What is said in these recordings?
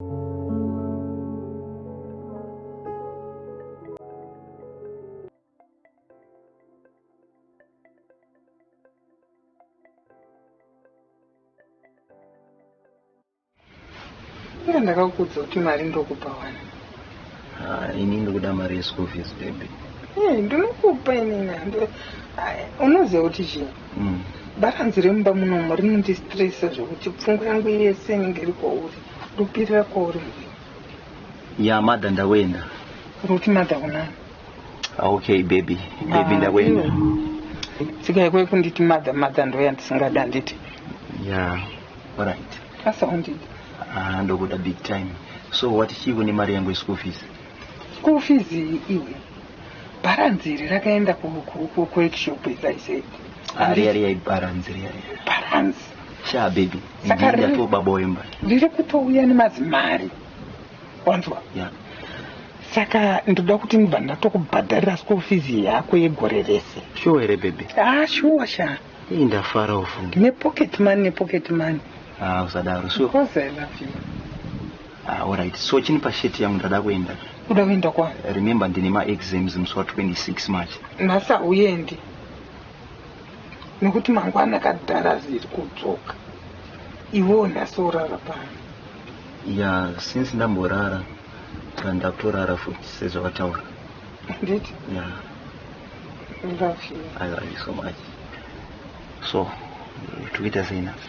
Ina ndakakudza kuti mari ndokupa wani. Ah, ini ndokuda mari yeschool fees baby. Eh, ndinokupa inini. Unoziva kuti chii? Mm. Baranzi remumba munomu rinondistresa zvekuti pfungwa yangu yese inenge iri kwauri. Ndopirira kuri. Ya mother ndakuenda. Ruti mother kunani? Ah, okay baby. Baby ah, ndakuenda. Tsika ikwe kunditi mother mother ndoya ndisingada handiti? Ya. Alright. Asa undida. Ah, ndokuda big time. So wati chii kune mari yangu yeschool fees? School fees iyi iwe. Balance iri rakaenda ku ku ku ku workshop as I said. Ariya riya ibaranzi riya riya. Balance. Sha baby. Saka Ndiri ri- ndato baba wemba. Riri kutouya nemazimari. Wanzwa? Yeah. Saka ndoda kuti ndibva ndatokubhadharira school fees yako yegore rese. Sure here baby? Ah sure sha. Hii ndafara ufunge. Ne pocket money ne pocket money. Ah usadaro sure. Because I love you. Ah, alright. So chini pashirt yangu ndada kuenda. Uda kuenda kwa? Remember ndine ma exams musi wa 26 March. Nhasi hauendi. Nekuti mangwana kadhara ziri kudzoka. Iwewo nhasi orara pano. Ya, since ndamborara kana ndakutorara futi sezvawataura. Handiti? Ya. I love you. I love you so much. So, toita sei nhasi?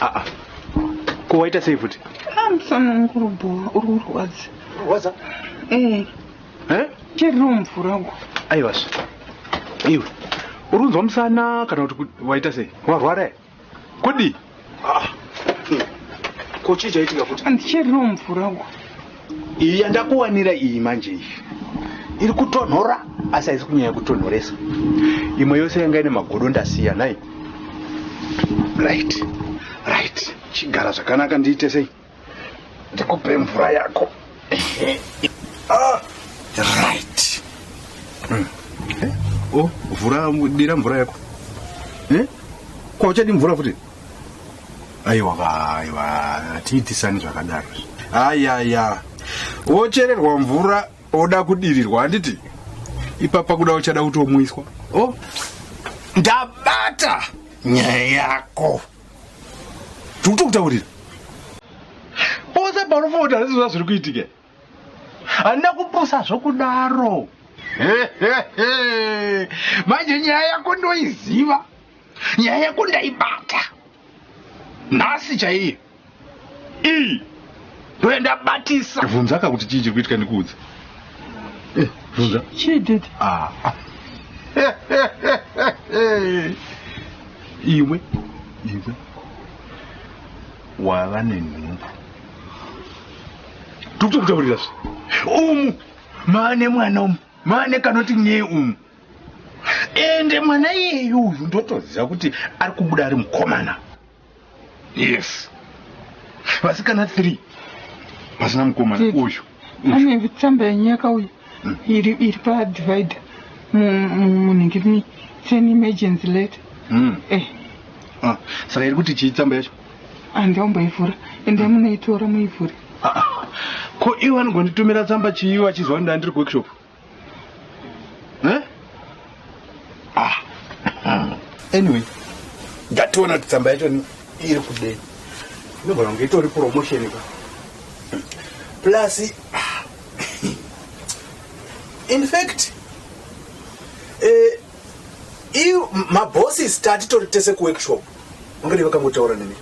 aa ko waita sei futi Ah, musana wangu uri bhowa uri kurwadza waza ee eh cheriro mvura uko aivazve iwe uri kunzwa musana kana kuti ku- waita sei warwara here kudii ko chii chaitika futi handicheriro mvura uko iyi yandakuwanira iyi manje iyi iri kutonhora asi haisi kunyanya kutonhoresa imwe yose yanga ine magodo ndasiya nhai right right chigara zvakanaka ndiite sei ndikupe mvura yako ah, right hmm. eh, o oh, vhura dira mvura yako eh? kwauchadi mvura futi aiwa aiwa hatiitisani zvakadaro ayaya wochererwa mvura oda kudirirwa handiti ipapa kuda uchada kutomwiswa o oh. ndabata nyaya yako tiri kutokutaurira pose panofoota nezvizva zviri kuitike Handina kupusa zvokudaro. Manje nyaya yako ndoiziva. Nyaya yako ndaibata. Nhasi chaiyo. Iyi. Ndoya ndabatisa. Vunza ka kuti chii chiri kuitika ndikuudze. Eh, vunza. Chii dede? Ah. ah. Iwe. Iwe. Wava nenhumbu. tikutokutaurira zve umu maane mwana umu maane kanoti nyee umu ende mwana iyeyu uyu ndotoziva kuti ari kubuda ari mukomana yes vasikana three vasina mukomana uyu ane vitsamba yenyaka uyu hmm. iri padivider munhingirimi sane emergency letter hmm. eh. ah, saka iri kuti chii tsamba yacho Hanzi aumboivhura ende munoitora muivhure. Ah, ah. Ko iwe vanogonditumira tsamba chii vachizwa kuti ndandiri kuworkshop? Eh? Ah. Anyway, ndationa kuti tsamba yacho iri kudei. Inogona kunge itori promotion ka. Plus ah. in fact eh, mabosses tatitori tese kuworkshop Ungadai vakangotaura nemi.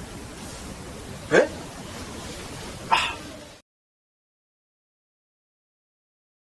Eh?